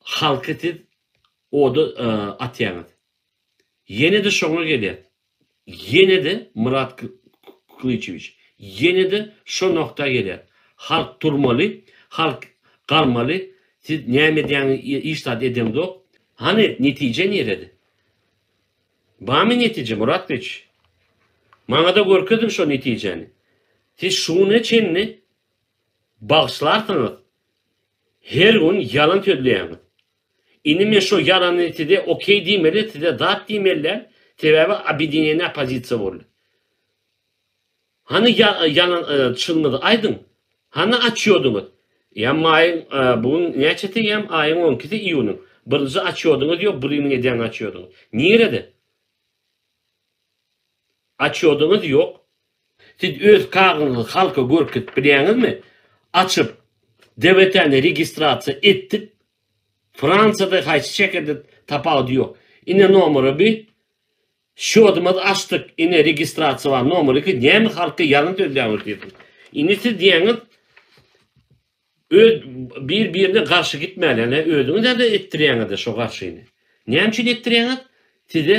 Halky siz oda atýaňyz. Ýene-de şoňa gelýäs. Ýene-de Myrat Klyçewiç, ýene-de şo nokta gelýäs. Halk durmaly, halk galmaly, siz näme edýäňiz, hiç zat edeňzok. Hany netije nirede? Barmy netije Myrat Klyçewiç? Maňa-da görkeziň şo netijäni. Siz şuňa çenli bagyşlarsyňyz, Her gün ýalan sözleýäňiz. Indi men şo ýalany size okey diýmeli, size zat diýmelidäl, sebäbi obedinýeniýa oppozisiýa boldy. Hany ýalan çynyňyzy aýdyň. Hany açýodyňyz. Ýa maýyň bu gün näçesi ýa aýyň on ikisi iýunyň. Birinji açýodyňyz ýok, biriniň edýän açýodyňyz. Nirede? Açýodyňyz ýok. Siz öz kagyzyňyzy halka görkezip bilýäňizmi? Açyp, DVT-ni registrasiýa etdik. Fransiýada haýsy şäherde tapawudy ýok. Ine nomera bi. Şýodymyzy açdyk. Ine registrasiýa bar. Nomer iki. Näme halka ýalňy sözläňiz diýdim. Indi siz diýýäňiz öz bir birine garşy gitmäli. Ine özüňiz-ä etdirýäňiz-de şo garşyny. Näme üçin etdirýäňiz? Size